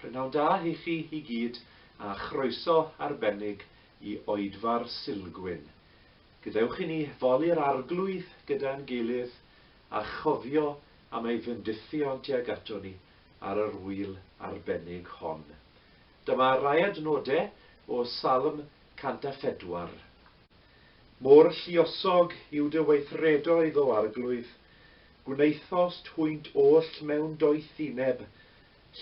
P'nawn da i chi i gyd a chroeso arbennig i Oedfa'r Silgwyn. Gadewch i ni foli'r Arglwydd gyda'n gilydd a chofio am ei fendithion tuag ato ni ar yr ŵyl arbennig hon. Dyma rai adnodau o Salm 104. Mor lluosog yw dy weithredoedd, O Arglwydd, gwnaethost hwynt oll mewn doethineb,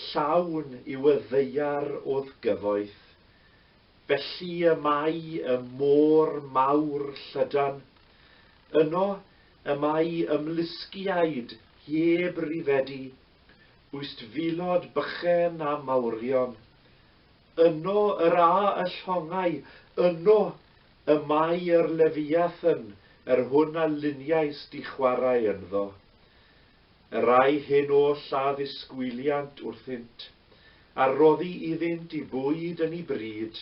llawn yw y ddaear o'th gyfoeth. Felly y mae y môr mawr llydan, yno y mae ymlusgiaid heb rifedi Ustfilod bychen a mawrion. Yno yr a y llongau, yno y mae yr Lefiathan, yr hwn a luniais di chwarae ynddo. Yr ai hyn oll a ddisgwyliant wrthynt, a roddi iddynt i bwyd yn i bryd.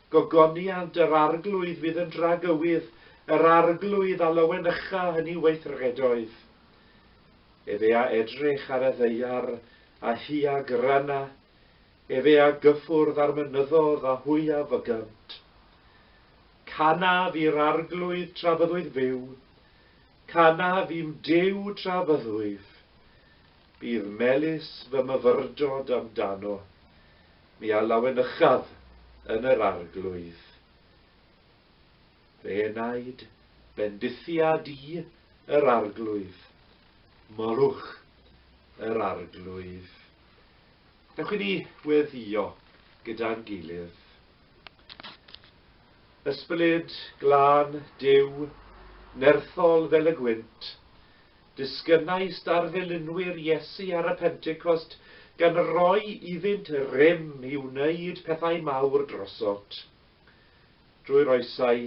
Gogoniant yr Arglwydd fydd yn dragywydd, yr Arglwydd a lawenycha yn ei weithredoedd. Efe a edrych ar y ddaear, a hi a gryna, efe a gyffwrdd â'r mynyddodd, a hwy a fygynt. Canaf i'r Arglwydd tra byddwyf fyw, canaf i'm Duw tra byddwyf. Bydd melys fy myfyrdod amdano mi a lawenychaf yn yr arglwydd. Fe wnaed bendithiad i yr arglwydd, molwch yr arglwydd. Dewch i ni weddïo gyda'n gilydd. Ysbryd glân Duw, nerthol fel y gwynt, Disgynai starddelinwyr Iesu ar y Pentecost gan roi iddynt rym i wneud pethau mawr drosodd. Drwy'r oesau,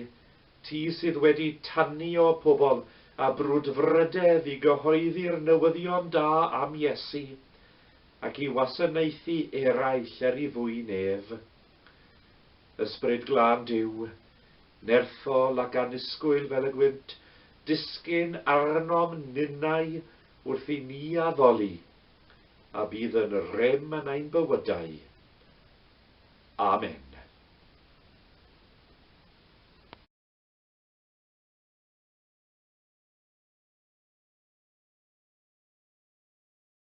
ti sydd wedi tanio pobl â brwdfrydedd i gyhoeddi'r newyddion da am Iesu ac i wasanaethu eraill er i fwyn ef. Ysbryd Glân Duw, nerthol ac annisgwyl fel y gwynt, disgyn arnom ninnau wrth i ni addoli, a bydd yn rym yn ein bywydau. Amen.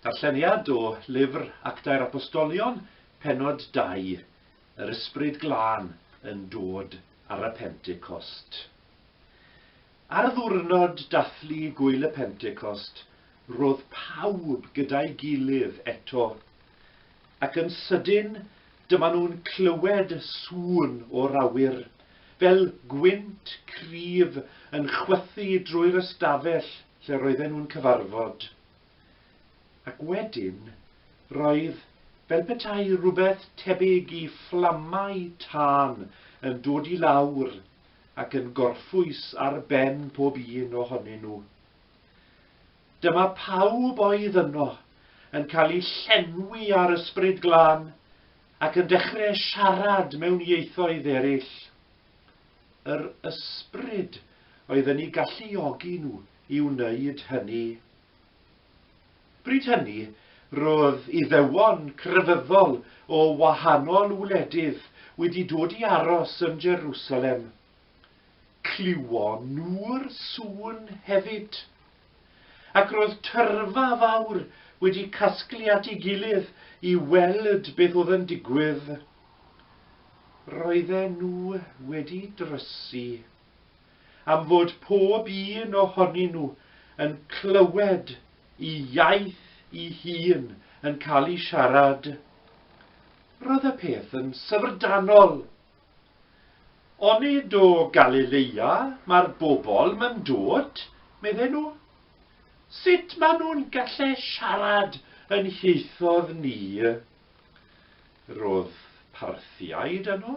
Darlleniad o lyfr Actau'r Apostolion, Pennod 2, Yr Ysbryd Glân yn dod ar y Pentecost. Ar ddiwrnod dathlu Gŵyl y Pentecost, roedd pawb gyda'i gilydd eto, ac yn sydyn dyma nhw'n clywed sŵn o'r awyr, fel gwynt cryf yn chwythu drwy'r ystafell lle roedden nhw'n cyfarfod. Ac wedyn, roedd fel petai rhywbeth tebyg i fflamau tân yn dod i lawr, ac yn gorffwys ar ben pob un ohonyn nhw. Dyma pawb oedd yno yn cael eu llenwi â'r Ysbryd Glân ac yn dechrau siarad mewn ieithoedd eraill. Yr Ysbryd oedd yn eu galluogi nhw i wneud hynny. Bryd hynny, roedd Iddewon crefyddol o wahanol wledydd wedi dod i aros yn Jerusalem. Clywon nhw'r sŵn hefyd. Ac roedd tyrfa fawr wedi casglu at ei gilydd i weld beth oedd yn digwydd. Roedden nhw wedi drysu. am fod pob un ohonyn nhw yn clywed i iaith i hun yn cael ei siarad. Roedd y peth yn syfrdanol. Onid o Galileia mae'r bobl yn dod, medden nhw? Sut maen nhw'n gallu siarad yn hieithoedd ni? Roedd Parthiaid yno,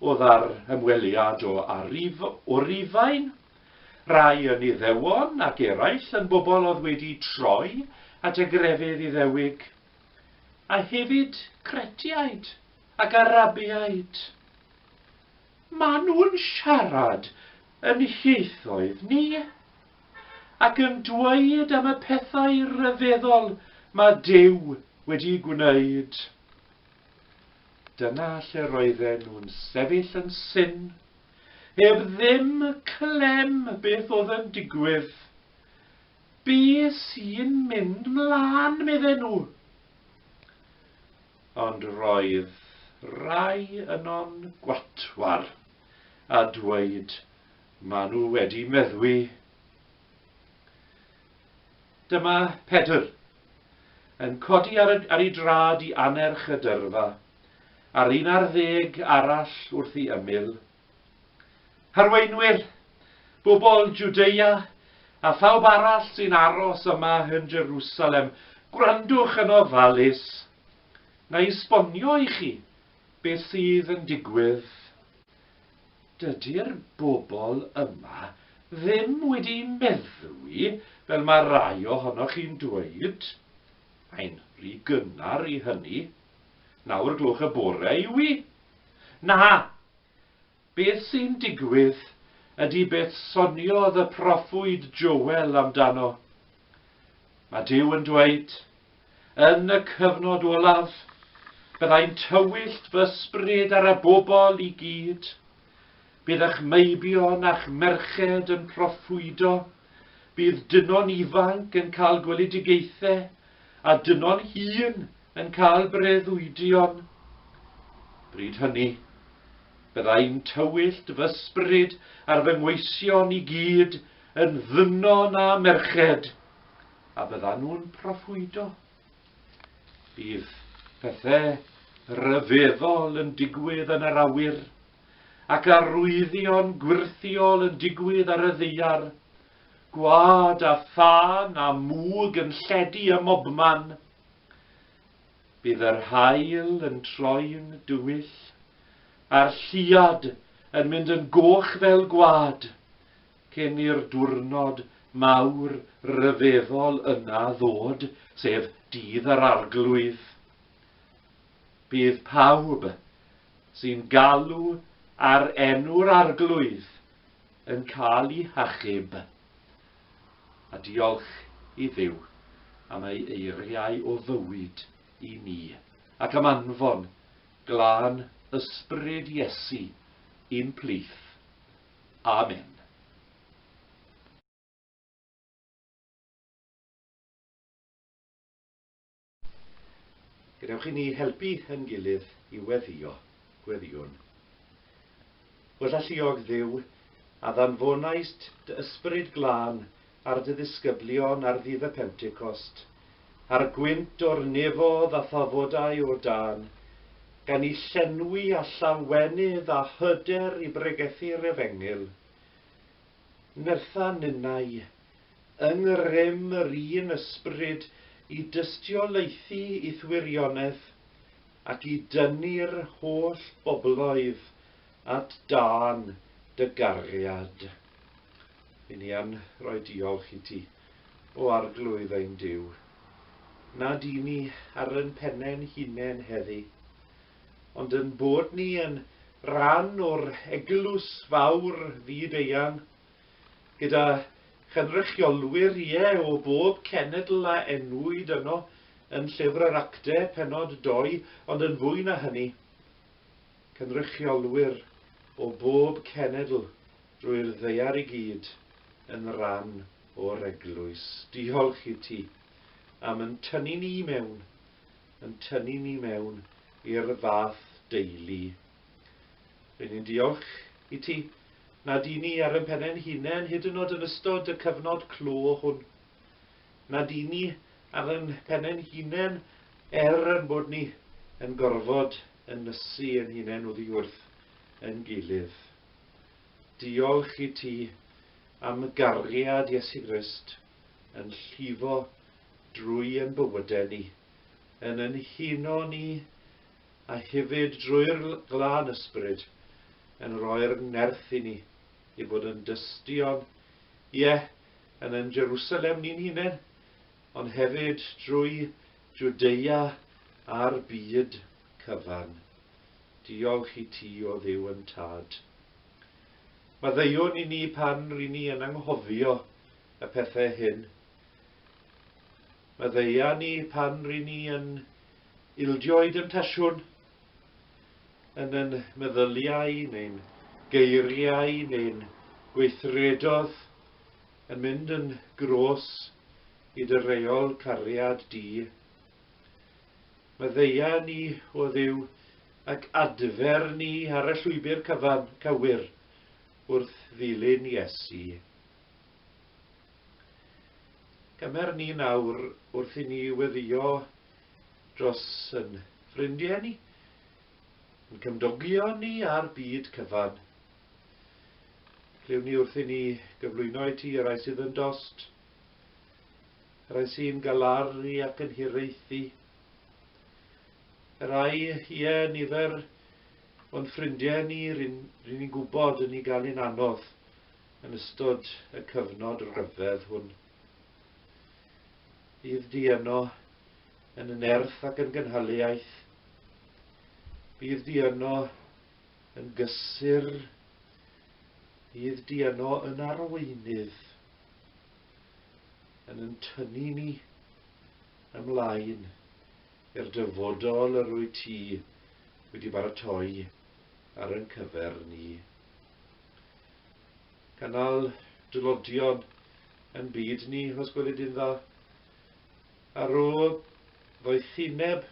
Oedd ar ymweliad o arif o Rufain, rai yn Iddewon ac eraill yn bobl oedd wedi troi at y grefydd Iddewig, a hefyd Cretiaid ac Arabiaid. Maen nhw'n siarad yn hieithoedd ni, ac yn dweud am y pethau rhyfeddol mae Duw wedi gwneud. Dyna lle roedden nhw'n sefyll yn syn, heb ddim clem beth oedd yn digwydd. Be sy'n mynd 'mlan, medden nhw? Ond roedd rai yno'n gwatwar a dweud, 'Ma nhw wedi meddwi. Dyma Pedr, yn codi ar y, ar ei drad i annerch y dyrfa, a'r un ar ddeg arall wrth ei ymyl. Harweinwyr, bobl Jwdea, a phawb arall sy'n aros yma yn Jerusalem, gwrandwch yn ofalus. Na i sbonio i chi beth sydd yn digwydd. Dydy'r bobl yma ddim wedi meddwi fel mae rai ohonoch chi'n dweud. Mae'n rhy gynnar i hynny. Naw o'r gloch y bore yw 'i. Na! Beth sy'n digwydd ydy beth soniodd y proffwyd Joel amdano. Mae Duw yn dweud, Yn y cyfnod olaf, byddai'n tywyllt fy sbryd ar y bobl i gyd. Bydd ych meibion a'ch merched yn proffwydo, bydd dynon ifanc yn cael gweledigaethau, a dynon hun yn cael breuddwydion. Bryd hynny, byddai'n tywyllt fy sbryd ar fy ngweision i gyd, yn ddynon a merched, a byddan nhw'n proffwydo. Bydd pethau rhyfeddol yn digwydd yn yr awyr, ac arwyddion gwirthiol yn digwydd ar y ddeiar, gwad a thân a mwg yn lledu ym mobman. Bydd yr hael yn troi'n dywyll, a'r lliad yn mynd yn goch fel gwad. Cyn i'r diwrnod mawr ryfeddol yna ddod, sef Dydd yr Arglwydd, bydd pawb sy'n galw ar enw'r Arglwydd yn cael eu hachub. A diolch i Dduw am ei eiriau o fywyd i ni, ac am anfon glân ysbryd Iesu i'n plith Amen. Gadewch i ni helpu yn gilydd i weddio gweddiwn. Wella lluog Dduw, a ddanfonaist dy ysbryd glân ar dy ddisgyblion ar ddydd y Pentecost, a'r gwynt o'r nefodd a thafodau o dân, gan i llenwi â llawenydd a hyder i bregethu'r Efengyl. Nertha ninnau, yng ngrym yr un Ysbryd, i dystiolaethu i'th wirionedd, ac i dynnu'r holl bobloedd At dân dy gariad. Ry' ni yn rhoi diolch i ti, o Arglwydd ein Duw, nad i ni ar yn pene'n hunen heddi, ond yn bod ni yn ran o'r Eglwys fawr fyd eang, gyda chynrychiolwyr, ie, o bob cenedl a enwyd yno yn Llyfr yr Actau, pennod dou, ond yn fwy na hynny, Cynrychiolwyr o bob cenedl drwy'r ddaear i gyd yn ran o'r Eglwys. Diolch i ti am yn tynnu ni i mewn, yn tynnu ni mewn i'r fath deulu. Rydyn ni'n diolch i ti nad i ni ar yn pennau'n hunain, hyd yn oed yn ystod y cyfnod clo hwn. na dyn ni ar yn pene'n hunain er yn bod ni yn gorfod yn nysu yn hunain oddi wrth yn gilydd. Diolch i ti am gariad Iesu Grist yn llifo drwy yn bywydau ni, yn yn huno ni a hefyd drwy'r glân ysbryd yn rhoi'r nerth i ni i fod yn dystion, ie, yn ein Jerusalem ni'n hunain, ond hefyd drwy Jwdea a'r byd cyfan. Diolch i ti, o Dduw yn Tad. Maddeuwn i ni pan ry'n ni yn anghofio y pethau hyn. Maddeua ni pan ry'n ni yn ildio i demtasiwn, yn yn meddyliau neu'n geiriau neu'n gweithredodd yn mynd yn gros i dy reol cariad di. Meddeia ni o ddiw ac adfer ni ar y llwybr cyfan, cywir wrth ddilyn Iesu. Cymer ni nawr wrth i ni weddio dros yn ffrindiau ni, yn cymdogion ni a'r byd cyfan. Clywn ni wrth i ni gyflwyno i ti y rai sydd yn dost, y rai sy'n galaru ac yn hiraethu, y rai, ie, nifer o'n ffrindiau ni ryn, ryn ni'n gwybod yn ei gael yn anodd yn ystod y cyfnod rhyfedd hwn. Bydd di yno, yn y nerth ac yn gynhaliaeth. Bydd di yno, yn gysur. Bydd di yno, yn arweinydd. Yn yn tynnu ni ymlaen i'r dyfodol yr wyt ti wedi baratoi ar yn cyfer ni. Cynnal dylodion yn byd ni, os gweli di'n dda. A rho ddoethineb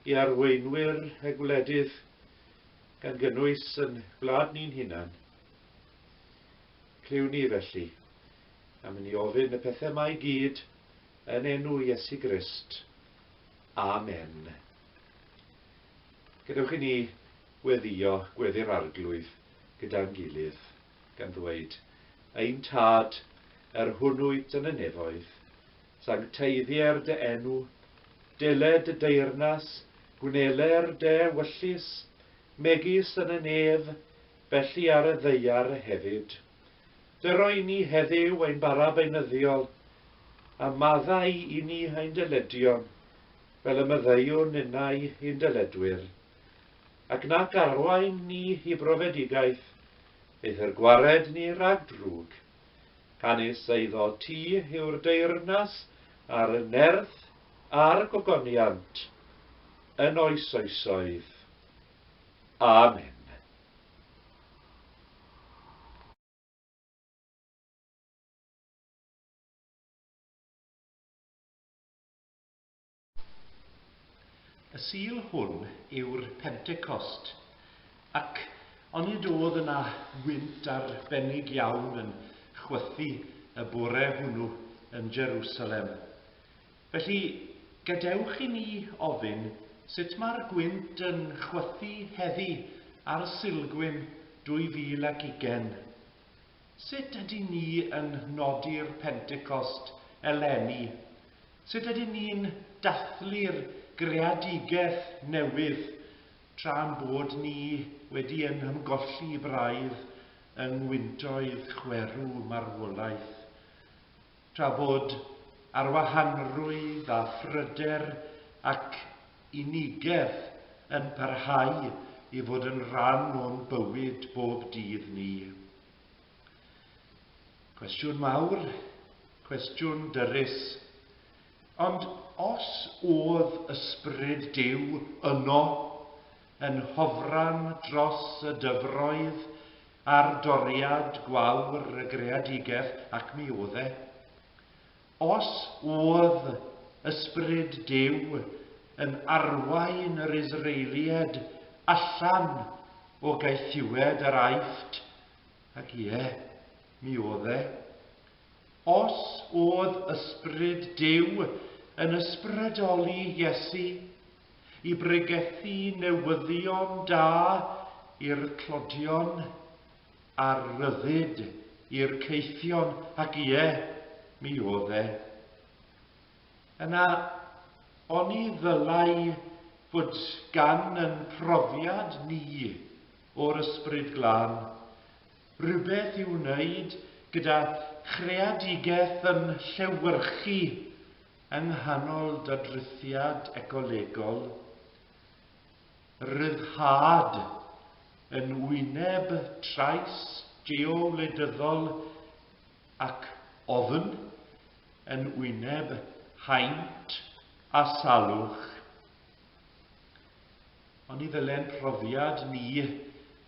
i arweinwyr y gwledydd, gan gynnwys yn gwlad ni'n hunan. Clyw ni felly, am i ni ofyn y pethau mae i gyd yn enw Iesu Grist. Amen. Gadewch i ni gweddïo Gweddi'r Arglwydd gyda'n gilydd, gan ddweud, Ein Tad, yr hwn wyt yn y nefoedd, sancteiddier dy enw, dele dy deyrnas, gwneler dy ewyllys, megis yn y nef, felly ar y ddaear hefyd. Dy roi ni heddyw ein bara beunyddiol, a maddau i ni ein dyledion, fel y maddeuwn innau i'n dyledwyr. ac na garwain ni i brofedigaeth, eithr gwared ni rhag drwg, canys eiddo ti yw'r deyrnas a'r nerth a'r gogoniant yn oes oesoedd. Amen. Y Sul hwn yw'r Pentecost. Ac onid oedd yna wynt arbennig iawn yn chwythu y bore hwnnw yn Jerusalem? Felly, gadewch i ni ofyn sut mae'r gwynt yn chwythu heddi ar Sulgwyn 2020. Sut ydyn ni yn nodi'r Pentecost eleni? Sut ydyn ni'n dathlu'r greadigaeth newydd tra'n bod ni wedi ein hymgolli braidd yng ngwyntoedd chwerw marwolaeth? Tra bod arwahanrwydd a phryder ac unigedd yn parhau i fod yn rhan o'n bywyd bob dydd ni, cwestiwn mawr, cwestiwn dyrys, ond os o'dd Ysbryd Duw yno yn hofran dros y dyfroedd, Ar doriad gwawr y greadigeth ac mi oedd e. Os oedd Ysbryd Duw yn arwain yr Israelied allan o gaethiwed yr Aifft, ac ie, mi oedd e, Os oedd Ysbryd Duw yn ysbrydoli Iesu i bregethu newyddion da i'r clodion a'r rhyddid i'r caethion, ac ie, mi oedd e, yna oni ddylai fod gan yn profiad ni o'r Ysbryd Glân? rhywbeth i'w wneud gyda chreadigaeth yn llewyrchu yng nghanol dadrithiad ecolegol ryddhad yn wyneb trais geowledyddol ac ofn yn wyneb haint a salwch. ond ni ddyle ein profiad ni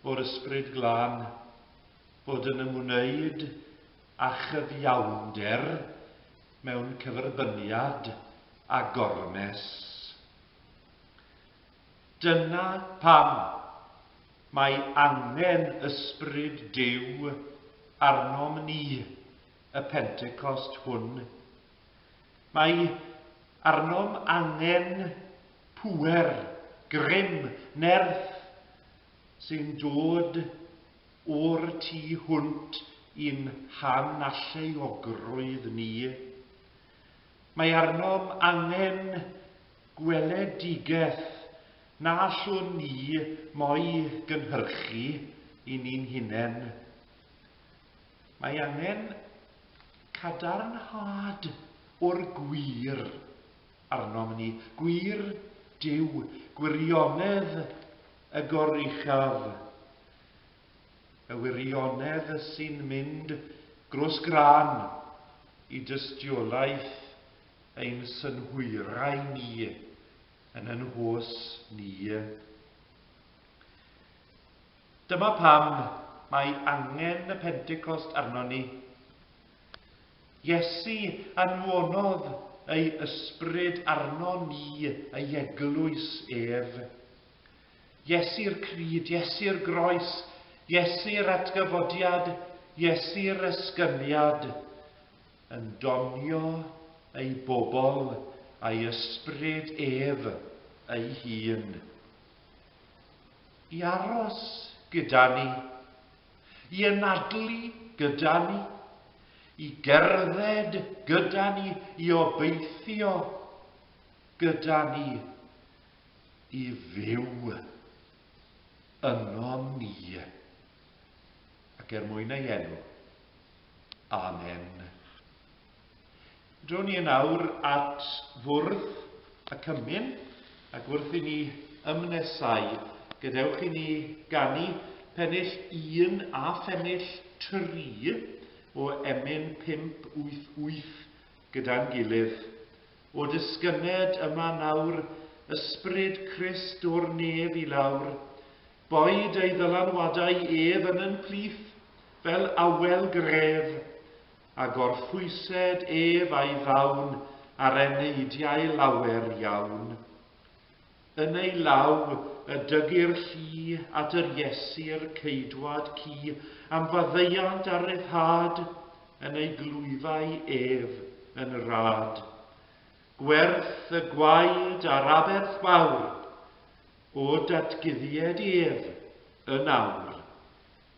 o'r Ysbryd Glân fod yn ymwneud â chyfiawnder mewn cyferbyniad â gormes. Dyna pam mae angen Ysbryd Duw arnom ni y Pentecost hwn, Mae arnom angen pŵer, grym, nerth sy'n dod o'r tu hwnt i'n hanalluogrwydd ni. Mae arnom angen gweledigaeth na allwn ni mo'i gynhyrchu i ni'n hunain. Mae angen cadarnhad o'r gwir arnom ni, gwir Duw, gwirionedd y goruchaf, y wirionedd sy'n mynd grws gran i dystiolaeth ein synhwyrau ni yn yn hos ni. Dyma pam mae angen y Pentecost arnon ni. Iesu anfonodd ei ysbryd arnon ni ei eglwys ef. Iesu'r crud, Iesu'r groes, Iesu'r atgyfodiad, Iesu'r esgyniad, yn donio ei bobl a'i ysbryd ef ei hun. I aros gyda ni. I anadlu gyda ni. I gerdded gyda ni. I obeithio gyda ni. I fyw yno ni. Ac er mwyn ei enw. Amen. Dro ni yn awr at fwrdd y cymun, ac wrth i ni ymnesau, gadewch i ni ganu pennill un a phennill tri o emyn 588 gyda'n gilydd. O dysgyned yma nawr Ysbryd Crist o'r nef i lawr, boed ei ddylanwadau ef yn yn plith fel awel gref, a gorffwysed ef a'i fawn ar eneidiau lawer iawn. Yn ei law y dygyr llu at yr Iesir ceidwad cu am faddeuant a ryddhad, yn ei glwyfau ef yn rad. Gwerth y gwaed a'r aberth fawr, o datguddied ef yn awr.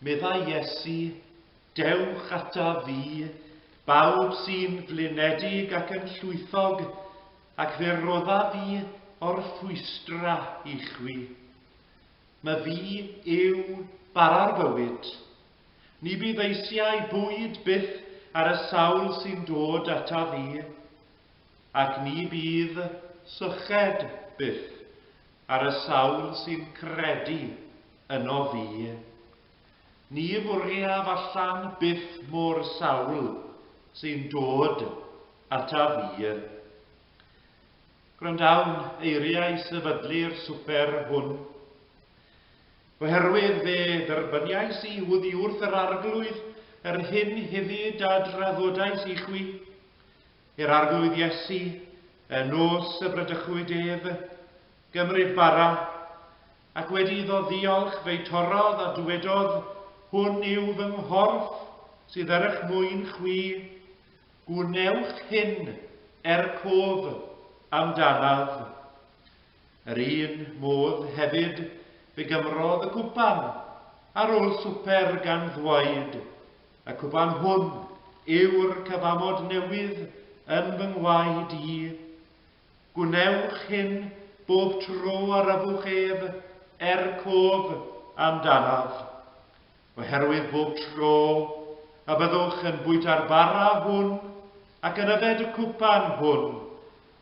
Meddai Iesu, Dewch ata fi, bawb sy'n flinedig ac yn llwythog, ac fe rodda fi o'r rhwystra i chwi. Mae fi yw bara'r bywyd, Ni bydd eisiau bwyd byth ar y sawl sy'n dod ataf i, ac ni bydd syched byth ar y sawl sy'n credu yno fi. Ni fwriaf allan byth mo'r sawl sy'n dod ataf i. Gwrandawn eiriau sefydlu'r swper hwn. Oherwydd fe dderbyniais i oddi wrth yr Arglwydd yr hyn hefyd a draddodais i chwi, i'r Arglwydd Iesu, y nos y bradychwyd ef, gymryd bara, ac wedi iddo ddiolch fe'i torrodd a dywedodd, Hwn yw fy nghorff sydd er eich mwyn chwi, gwnewch hyn er cof amdanaf. Yr un modd hefyd fe gymrodd y cwpan ar ôl swper gan ddweud, Y cwpan hwn yw'r cyfamod newydd yn fy ngwaed i. Gwnewch hyn bob tro a rafwch ef, er cof amdanaf. Oherwydd bob tro y byddwch yn bwyta'r bara hwn ac yn yfed y cwpan hwn,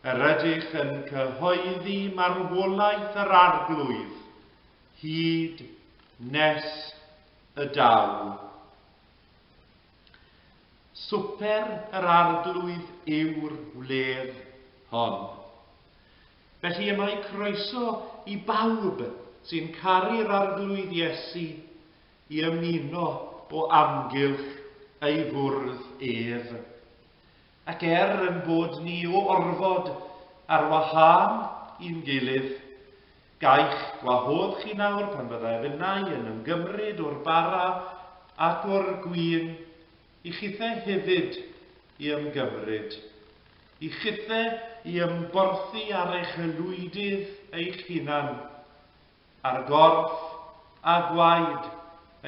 Yr ydych yn cyhoeddi marwolaeth yr Arglwydd hyd nes y daw. Swper yr Arglwydd yw'r wledd hon. Felly y mae croeso i bawb sy'n caru'r Arglwydd Iesu i ymuno o amgylch ei fwrdd ef. Ac er ein bod ni o orfod ar wahân i'n gilydd, gai'ch gwahodd chi nawr pan fyddai fy nai yn ymgymryd o'r bara ac o'r gwin, i chithe hefyd i ymgymryd, i chithe i ymborthi ar eich aelwydydd eich hunan, ar gorff a gwaed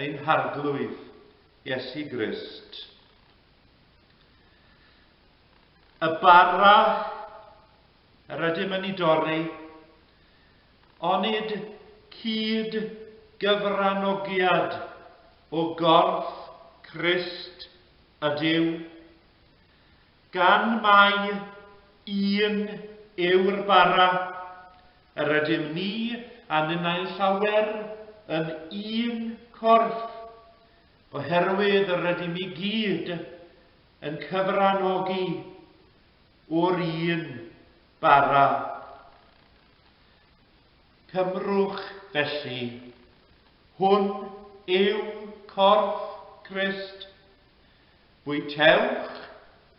ein Harglwydd, Iesu Grist. Y bara rydym yn ei dorri, onid cyd gyfranogiad o gorff Crist ydyw, gan mai un yw'r bara, yr ydym ni a ninnau'n llawer yn un corff, Oherwydd rydym i gyd yn cyfranogi o'r un bara. Cymrwch, felly, hwn yw corff Crist. Bwytewch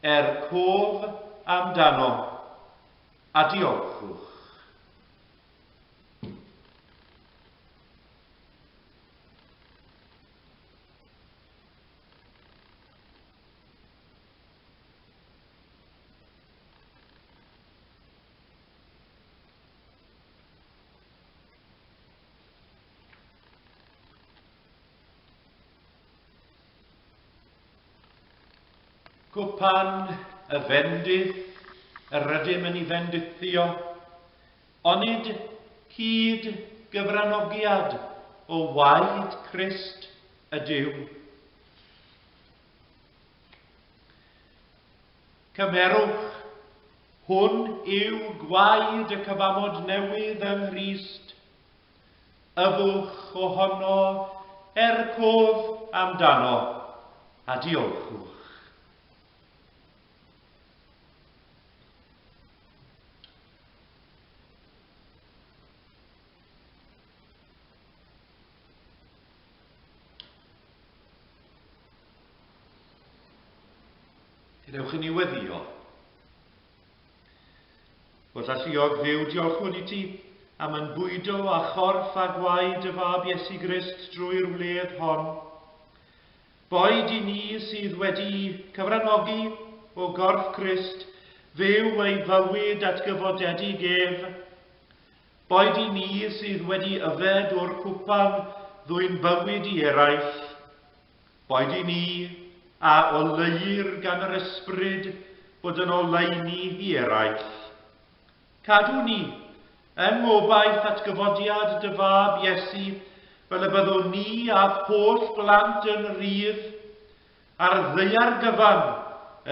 er cof amdano, a diolchwch. Gwpan y fendith yr ydym yn ei fendithio, Onid hyd gyfranogiad o waed Crist ydyw? Cymerwch, hwn yw gwaed y cyfamod newydd yng Nghrist. Yfwch ohono er cof amdano, a diolchwch. Dewch i ni weddio. Wrth alluog ddew diolchwn i ti am yn bwydo a chorff a gwaed y fab Iesu Grist drwy'r wledd hon. Boed i ni sydd wedi'u cyfranogi o gorff Crist fyw ei fywyd atgyfodedig ef, boed i ni sydd wedi yfed o'r cwpan ddwyn bywyd i eraill, boed i ni a oleuir gan yr Ysbryd fod yn oleuni i eraill, Cadw ni yn ngobaith atgyfodiad dy Fab, Iesu, fel y byddwn ni a'th holl blant yn rhydd a'r ddaear gyfan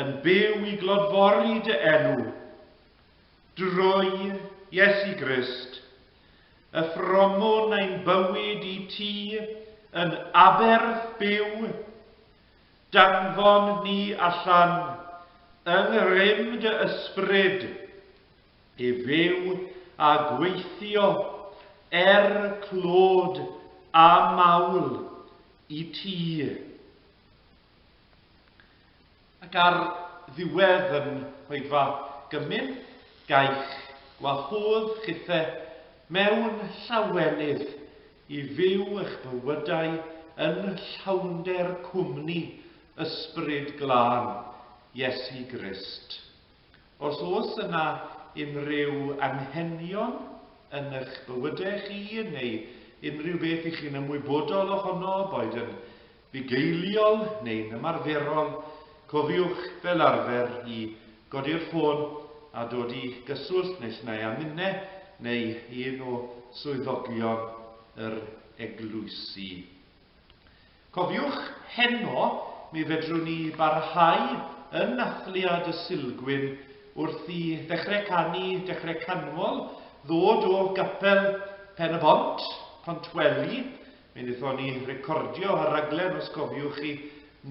yn byw i glodfori dy enw. Drwy Iesu Grist, y ffromwn ein bywyd i ti yn aberth byw. Danfon ni allan, yng ngrym dy Ysbryd, i fyw a gweithio er clod a mawl i ti. Ac ar ddiwedd yn hoedfa gymyn gaich wahodd chithe mewn llawenydd i fyw eich bywydau yn llawnder cwmni Ysbryd Glân Iesu Grist. Os oes yna unrhyw anghenion yn eich bywydau chi neu unrhyw beth i chi'n ymwybodol ohono, boed yn bugeiliol neu'n ymarferol, cofiwch fel arfer i godi'r ffôn a dod i gyswllt nes na â minne neu un o swyddogion yr eglwysi. Cofiwch, heno, mi fedrwn ni barhau yn Nathliad y Sulgwyn wrth i Ddechrau Canu, Dechrau Canmol ddod o Gapel Pen-y-bont, Pontweli, Mi wnaethon ni recordio y rhaglen, os cofiwch chi,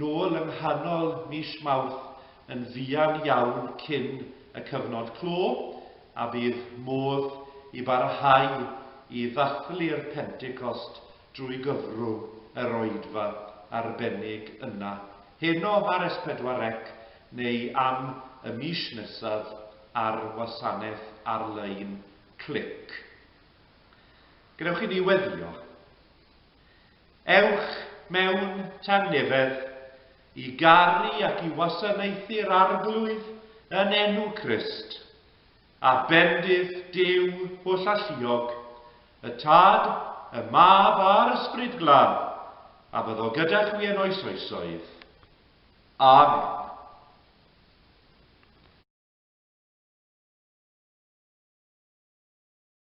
nôl yng nghanol mis Mawrth yn fuan iawn cyn y cyfnod clo, a bydd modd i barhau i ddathlu'r Pentecost drwy gyfrwng yr oedfa arbennig yna heno ar S4C neu am y mis nesaf ar wasanaeth ar-lein Clic. Gadewch i ni weddio. Ewch mewn tangnefedd i garu ac i wasanaethu'r Arglwydd yn enw Crist, a bendith Duw hollalluog, y Tad, y Mab a'r Ysbryd Glân, a byddo gyda chwi yn oes oesoedd. Amen.